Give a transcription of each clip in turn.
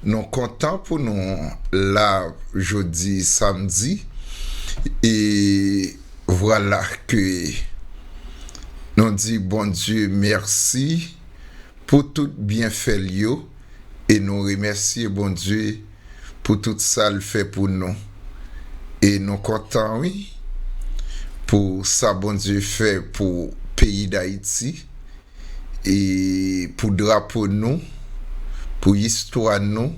Nou kontan pou nou la jodi samdi e vwala ke nou di Bondye mèsi pou tout byenfè l yo e nou remèsye Bondye pou tout sa l fè pou nou e nou kontan wi pou sa Bondye fè pou peyi Dayiti E pou drapo nou, pou istwa nou,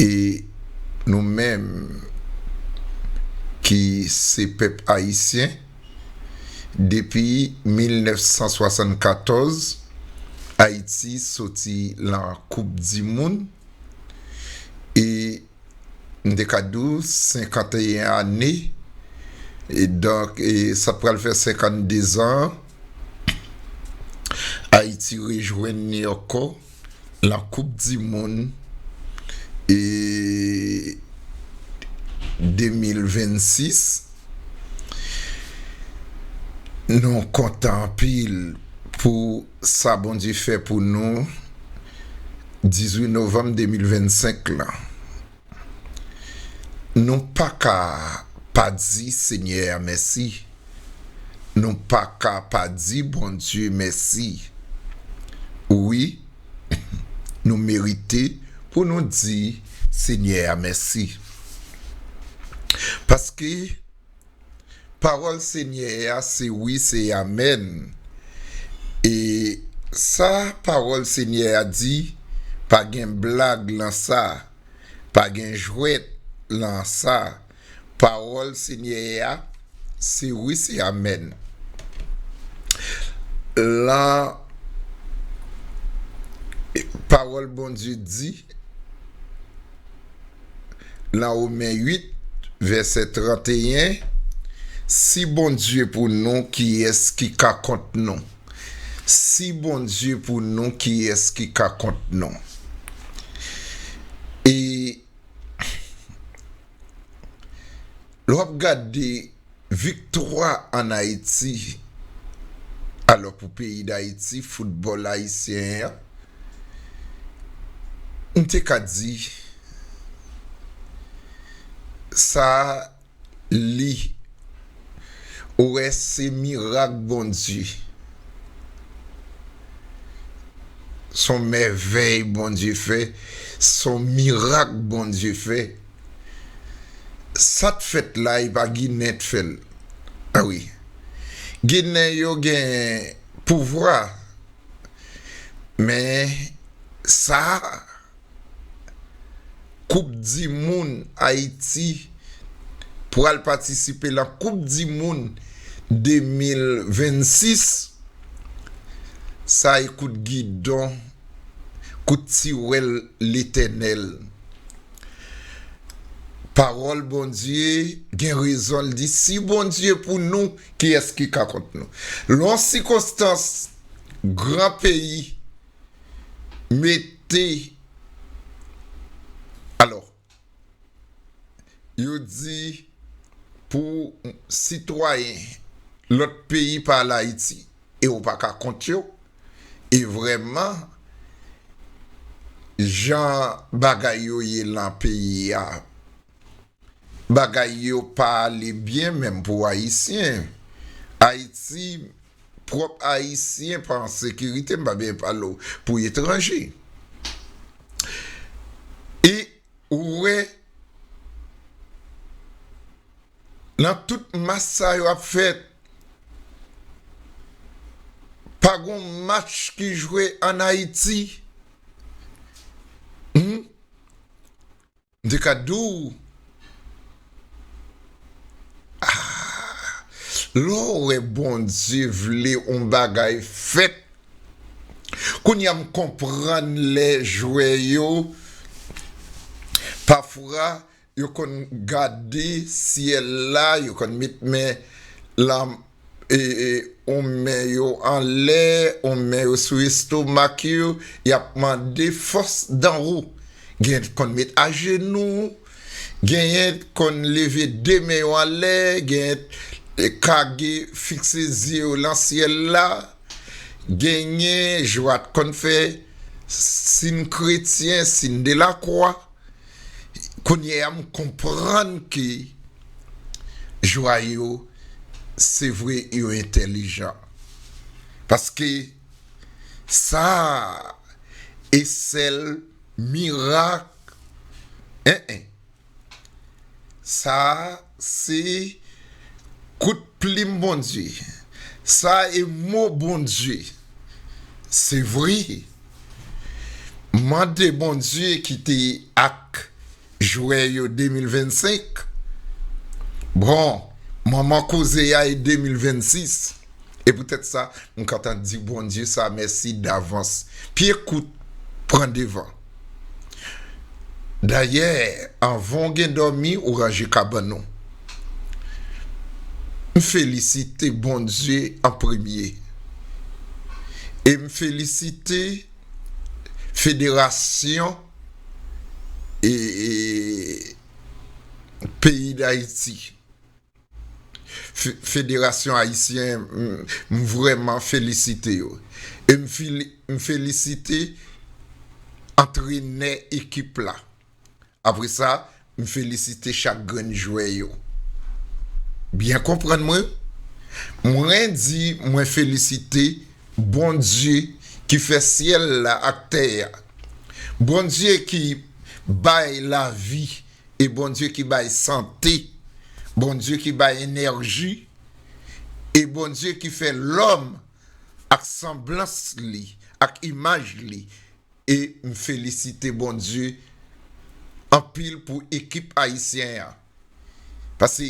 e nou menm ki se pèp ayisyen, depi 1974, Ayiti soti lan koup di moun, e. M te ka di w 51 ane, e donk sa pral fè 52 zan Ayiti rejwenn ni ankò lan koup di moun e 2026. Nou kontan anpil pou. Sa Bondye fè pou nou 18 novanm 2025 lan Nou paka pa di Senyè a mèsi Nou paka pa di Bondye mèsi Wi Nou merite pou nou di Senyè a mèsi Paske Pawòl Senyè a se wi se amèn e sa pawòl Senyè a di pa gen blag lan sa pa gen jwèt lan sa pawòl Senyè a se wi se amèn lan pawòl Bondye di. Nan Women 8, vèsè 31, Si Bondye pou nou, kiyès ki ka kont nou? Si Bondye pou nou, kiyès ki ka kont nou? E. Lè wap gade viktwa an Ayiti alò pou peyi Dayiti foutbòl ayisyen an m te ka di sa li Ou wè se mirak Bondye. Son mèvèy Bondye fè, son mirak Bondye fè. Sat fèt la epa ginen t fèl. A wi. Ginen yo gen pouvwa men sa. Koup di moun Ayiti pral patisipe lan koup di moun 2026 sa e kout gidon kout tiwèl letènèl pawòl Bondye gen rezon l di si Bondye pou nou kiyès ki ka kont nou lan yon sikonstans gran peyi Mete Alò, yo di pou sitwayen lòt peyi pa al Ayiti e ou pa ka kont yo, e vrèman jan bagay yo ye lan peyi a bagay yo pa ale byen menm pou ayisyen ayiti prop ayisyen pa an sekirite m pa byen pale w pou etranje e ou wè nan tout match sa yo ap fèt pa gon match ki jwe an ayiti humm M te ka di w Aah lè w wè Bondye vle on bagay fèt Kounye a m konprann lè jwè yo pafwa yo konn gade syèl la yo konn met men yon men yo anlè, yon men yo sou estomak yo, y ap mande fòs dan wou. Genyen ki konn met ajenou, genyen ki konn leve de men yo anlè, genyen ki kage fikse zye yo lan syèl la, genyen Joat konn fè sin kretyen, sin de lakwa. Kounyeya m konprann ke. Joie yo se vre yo entèlijan paske sa e sèl mirak eh eh sa se kout plim Bondye sa e mo Bondye se vre mande Bondye ki te ak Jwè yo 2025 Bon manman koze a e 2026 E poutèt sa m kontan di Bondye sa mèsi davans Pye kout pran devan Dayè anvan w gen dòmi ou ranje kabann ou M felisite Bondye an premye E m felisite federasyon e peyi dayiti federasyon ayisyen m vreman felisite yo e m felisite antrenè ekip la apresa M felisite chak grenn jwè yo byen konprann mwen, mwen di mwen felisite Bondye ki fè syèl la ak tè a, Bondye ki bay lavi e Bondye ki bay sante, Bondye ki bay enèji e Bondye ki fè lòm ak sanblans li, ak imaj li. E m felisite Bondye anpil pou ekip ayisyen an. Pase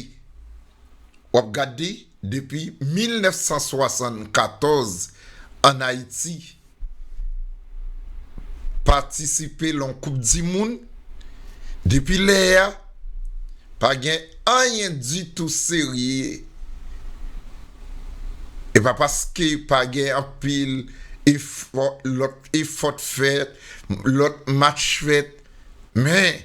w ap gade depi 1974 an Ayiti patisipe lan koup di moun, depi lè a pa gen anyen ditou serye. E pa paske pa gen anpil efò lòt Efòt fèt, lòt match fèt, men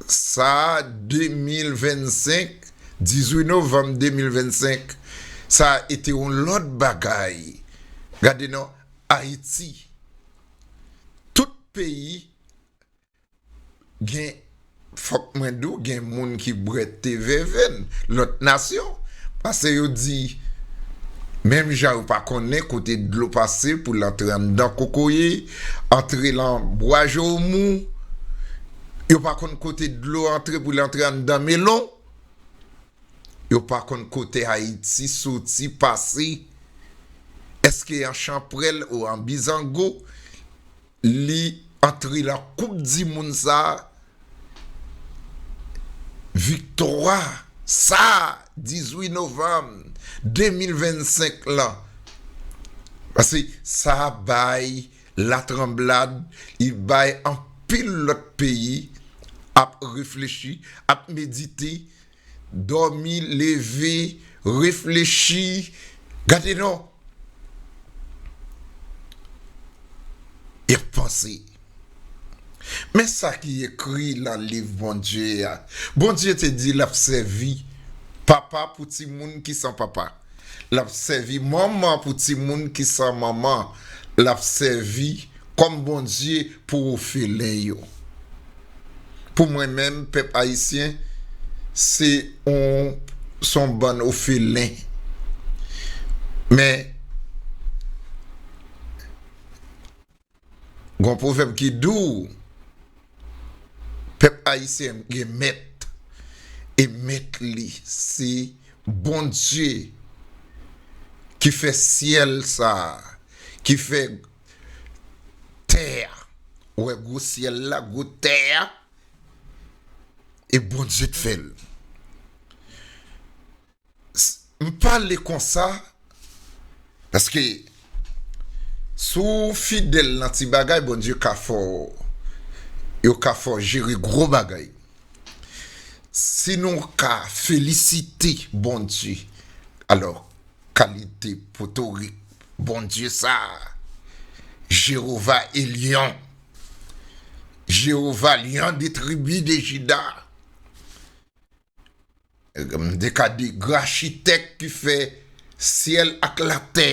sa 2025, 18 novanm 2025, sa e te yon lòt bagay. Gade non, Ayiti, tout peyi Gen fòk mwen di w gen moun ki bwè te vèvenn lòt nasyon pase yo di menm jan yo pa konnen kote dlo pase pou l antre anndan kokoye, antre lan bwa jowomou, yo pa konn kote dlo antre pou l antre anndan melon, yo pa konn kote Ayiti soti pase, èske an chanprèl ou an bizango. Li antre lan koup di moun sa a, viktwa sa a 18 novanm 2025 lan. Pase sa bay la tranblad, li bay anpil lòt peyi ap reflechi, ap medite. Dòmi, leve, reflechi, gade non! Y ap panse. Men sa ki ekri nan Liv Bondye a, Bondye te di l ap sèvi papa pou timoun ki san papa. Lap sèvi manman pou timoun ki san manman, lap sèvi kòm Bondye pou ofelen yo. Pou mwen menm pèp ayisyen se yon bann ofelen. Gon pwovèb ki dou pèp ayisyen gen mèt e mèt li se Bondye ki fè syèl sa ki fè tè a ou wè gwo syèl la gwo tè a e Bondye k fèl. M pale konsa paske si w fidèl nan ti bagay Bondye ka fè w yo ka fè w jere gwo bagay. Si nou ka felisite Bondye alò kalite potorik Bondye sa Jewova Elyon Jewova Lyon de tribi de Jida M te ka di grachitèk ki fè syèl ak latè.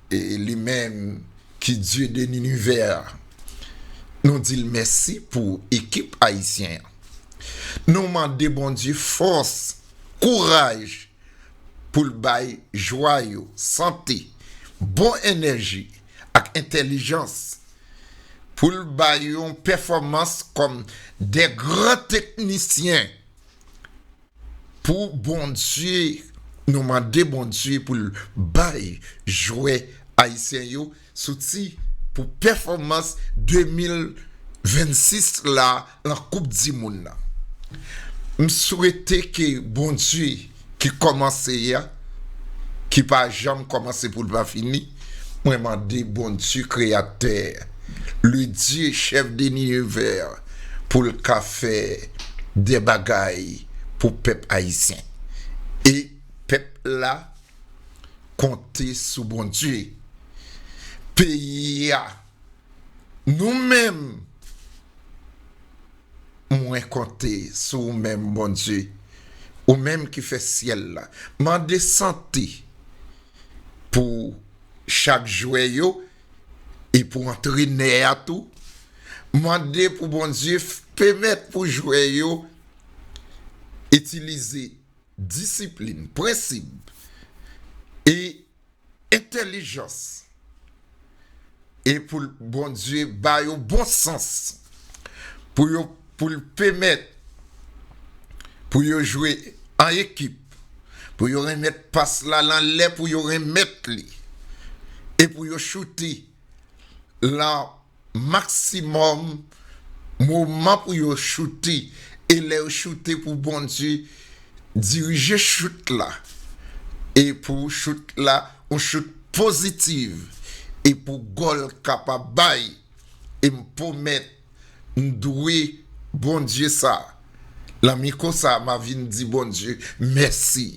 E li menm ki dye de linivè a. Nou di l mèsi pou ekip ayisyen an. Nou mande Bondye fòs, kouraj pou l bay jwa yo, sante, bon enèji ak entèlijans. pou l bay yon pèfòmans kòm de gran teknisyen pou Bondye, nou mande Bondye pou l bay jwè ayisyen yo zouti pou pèfòmans 2026 la. lan koup di moun nan m swete ke Bondye ki kòmanse a ki pa janm kòmanse poul pa fini mwen mande Bondye kreyatè le Dye chèf de nivè poul ka fè dè bagay pou pèp ayisyen e pèp la konte sou Bondye peyi a. Nou menm, mwen konte sou ou menm, Bondye, ou menm ki fè syèl la. Mande sante pou chak jwè yo e pou antrenè a tou. Mande pou Bondye pèmèt pou jwè yo itilize disiplin, prensip e entèlijans e pou l Bondye ba yo bon sans pou yo pou l pemèt pou yo jwe an ekip pou yo remèt pas la lan lè pou yo remèt li e pou yo choute lan Maximum moman pou yo choute e lè yo choute pou Bondye dirije chout la e pou chout la yon chout pozitiv e pou gòl kapab bay e m pwomèt m dwe Bondye sa lan mikwo sa ma vin di Bondye mèsi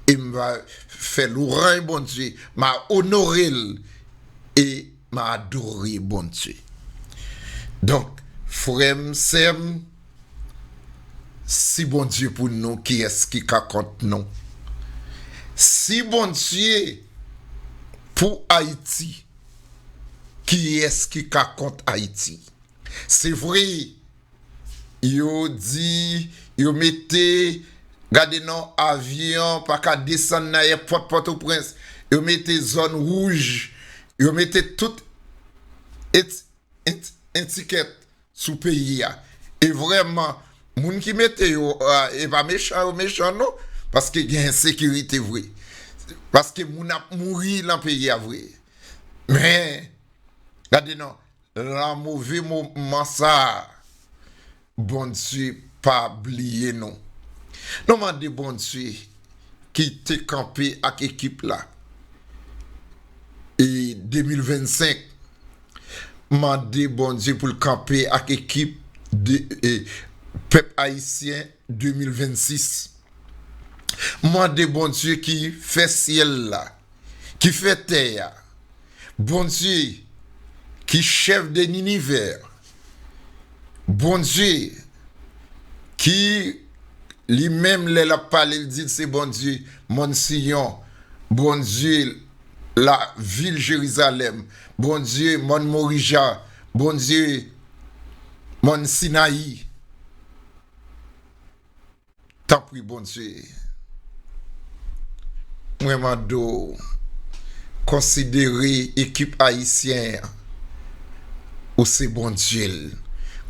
e m va fè lourany Bondye ma onore l e M adore Bondye. Donk frè m, sè m, si Bondye pou nou kiyès ki ka kont nou? Si Bondye pou Ayiti, kiyès ki ka kont Ayiti? Se vre, Yo di yo mete gade non avyon pa ka desann nan èpòt Pòtoprens. Yo mete zòn wouj, yo mete tout etikèt sou peyi a. E vrèman, moun ki mete yo a, e pa mechan yo mechan non, paske gen ensekirite vre. Paske moun ap mouri nan peyi a vre. Men, gade non. Lan move moman sa a, Bondye pa bliye nou. Nou mande Bondye ki te kanpe ak ekip la e 2025, mande Bondye pou l kanpe ak ekip pèp ayisyen 2026. Mande Bondye ki fè syèl la ki fè tè a, Bondye ki chèf de linivè, Bondye ki li menm lè l ap pale l di l se Bondye mòn Siyon, Bondye lavil Jerizalèm, Bondye mòn Morija, Bondye mòn Sinayi. Tanpri Bondye, mwen mande w konsidere ekip ayisyen an, ou se Bondye l,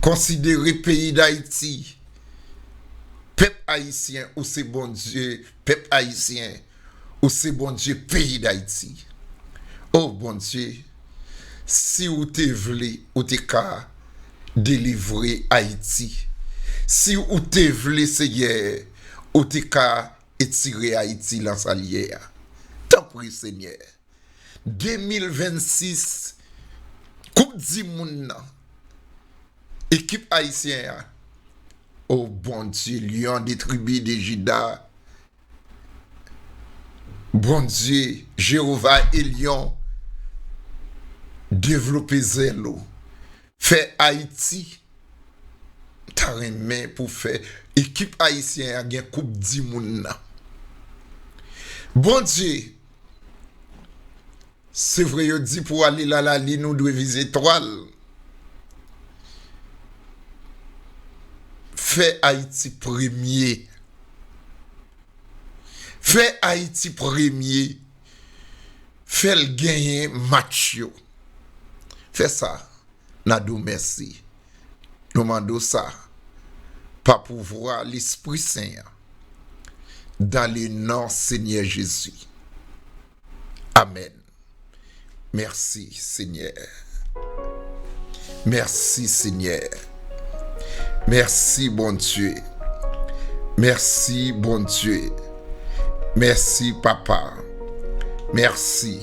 konsidere peyi Dayiti, pèp ayisyen, ou se Bondye pèp ayisyen. Ou se Bondye peyi dayiti. Oh Bondye si ou te vle ou te ka delivre ayiti si ou te vle senyè ou te ka etire ayiti lan sal ye a tanpri senyè 2026 koup di moun nan ekip ayisyen an oh Bondye lion de tribi de jida Bondye, Jewova Elyon, devlope zèl ou. Fè Ayiti M ta renmen pou fè ekip ayisyen an gen koup di moun nan. Bondye. Se vre yo di pou ale la la lin ou dwe vize etwal. Fè Ayiti premye. Fè Ayiti premye. Fè l genyen match yo. Fè sa. Nan di w mèsi. Nou mande w sa, pa pouvwa Lespri Sen an, dan le non Senyè Jezi. Amèn. Mèsi, Senyè. Mèsi, Senyè. Mèsi, Bondye. Mèsi, Bondye. Mèsi, Papa. Mèsi.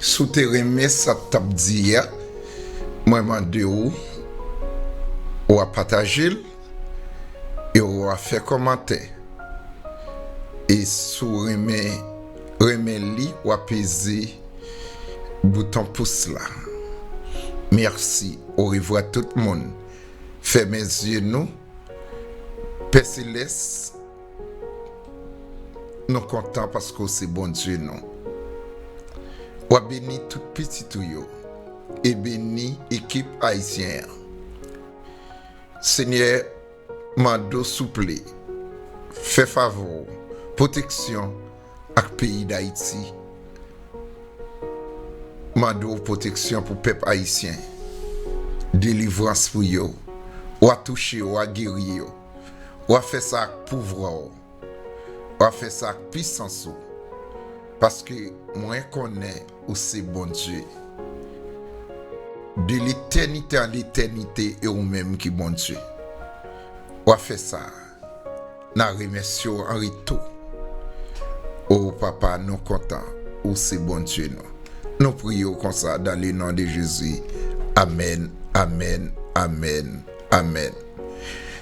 Si w te renmen sa m t ap di a, mwen mande w ou a pataje l e ou a fè kòmantè. E si w renmen renmen li w a peze bouton pous la. Mèsi orevwa tout moun. Fèmen zye nou. Pè Selès. Nou kontan paske w se Bondye nou. W ap beni tout pitit ou yo e beni ekip Ayisyen an. Senyè, mande w souple, fè favè w pwoteksyon ak peyi Dayiti. Mande w pwoteksyon pou pèp Ayisyen, delivrans pou yo. Wa touche, wa geri yo. W ap fè sa ak pouvwa w. W ap fè sa ak pisans ou. Paske mwen konnen ou se Bondye. De letènite an letènite e ou menm ki Bondye. W ap fè sa. N a remèsye w an retou. O Papa, nou kontan ou se Bondye nou. Nou priye w konsa dan le non de Jezi. Amèn, amèn, amèn. Amen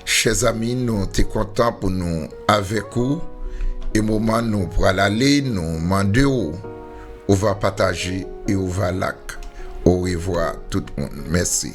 chè zami nou te kontan pou nou avèk ou e moman nou pral ale nou mande w ou va pataje e ou va lak orevwa tout moun mèsi.